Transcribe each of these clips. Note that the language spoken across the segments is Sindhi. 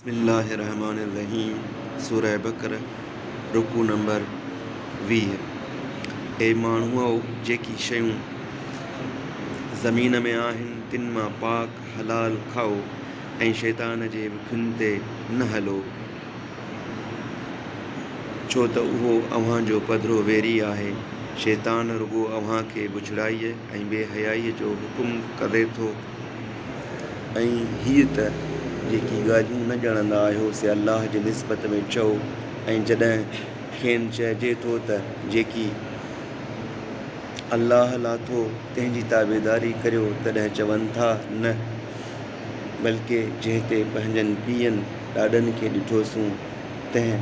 بسم الله الرحمٰن الرحيم سورة بقرة رڪوع نمبر ويهه اي ماڻهؤ! جيڪي شيون زمين ۾ آهن تن مان پاڪ، حلال، کائو ۽ شيطان جي وکين تي نه هلو، ڇو ته اهو اوهان جو پڌرو ويري آهي، شيطان رڳو اوهان کي بڇڙائيء، ۽ بي حيائيء جو حڪم ڪري ٿو ۽ هيء ته جيڪي ڳالهيون نه ڄاڻندا آهيو سي الله جي نسبت ۾ چئو ۽ جڏهن کين چئجي ٿو ته جيڪي الله لاٿو تنهن جي تابعداري ڪريو تڏهن چون ٿا نه بلڪ جنهن تي پنهنجن پيئن ڏاڏن کي ڏٺوسون تنهن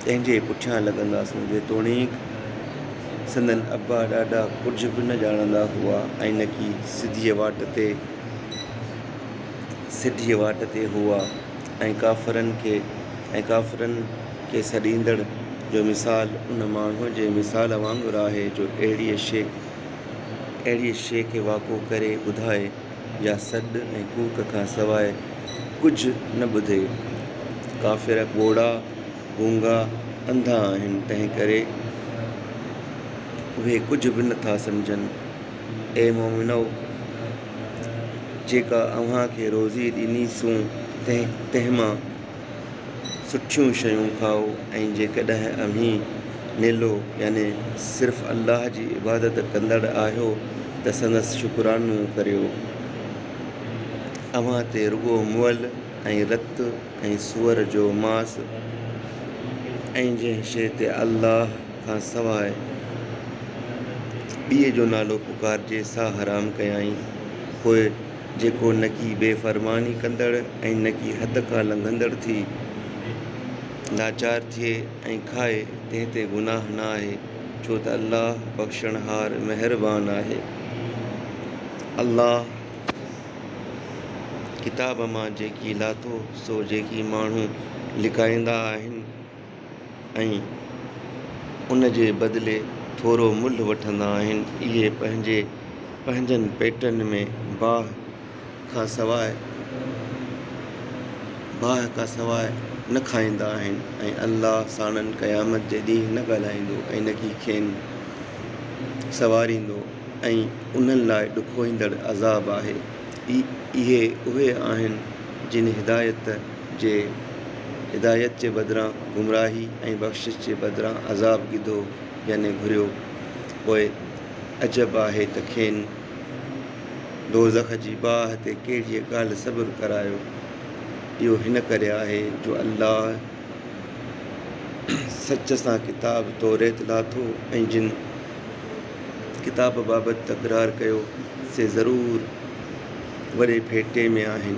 تنهن جي پٺيان لڳنداسون، جيتوڻيڪ سندن ابا ڏاڏا ڪجهه به نه ڄاڻندا هئا ۽ نڪي سڌيء واٽ تي سيڌيء واٽ تي هئا ۽ ڪافرن کي ۽ ڪافرن کي سڏيندڙ جو مثال ان ماڻهوء جي مثال وانگر آهي جو اهڙيء شيء اهڙيء شيء کي واقعو ڪري ٻڌائي. يا سڏ ۽ ڪوڪ کان سواء ڪجهه نه ٻڌي. ڪافر ٻوڙا، گونگا، انڌا آهن، تنهن ڪري اهي ڪجهه به نه ٿا سمجهن. اي مؤمنؤ! جيڪا اوهان کي روزي ڏنيسون تنهن مان سٺيون شيون کائو ۽ جيڪڏهن اوهين نيلو يعني صرف الله جي عبادت ڪندڙ آهيو ته سندس شڪرانو ڪريو. اوهان تي رڳو مئل ۽ رت ۽ سوئر جو ماس ۽ جنهن شيء تي الله کان سواء ٻئي جو نالو پڪارجي سا حرام ڪيائين. پوء جيڪو نڪي بي فرماني ڪندڙ ۽ نڪي حد کان لنگهندڙ ٿي لاچار ٿئي ۽ کائي تنهن تي گناهه نه آهي ڇو ته الله بخشڻهار مهربان آهي. الله ڪتاب مان جيڪي لاٿو سو جيڪي ماڻهو لڪائيندا آهن. ۽ ان جي بدلي ٿورو ملهه وٺندا آهن. اهي پنهنجي پنهنجن پيٽن ۾ باهه کان سواء باهه کان سواء نه کائيندا آهن ۽ الله ساڻن قيامت جي ڏينهن نه ڳالهائيندو ۽ نه ئي کين سنواريندو ۽ انهن لاء ڏکوئيندڙ عذاب آهي. اهي اهي آهن جن هدايت. جي هدايت جي بدران گمراهي ۽ بخشش جي بدران عذاب گدو يعني گهريو، پوء عجب آهي ته کين دوزخ جي باهه تي ڪهڙيء ڳالهه صبر ڪرايو، اهو هن ڪري آهي جو الله سچ سان ڪتاب توريت لاٿو ۽ جن ڪتاب بابت تڪرار ڪيو سي ضرور وڏي ڦيٽي ۾ آهن.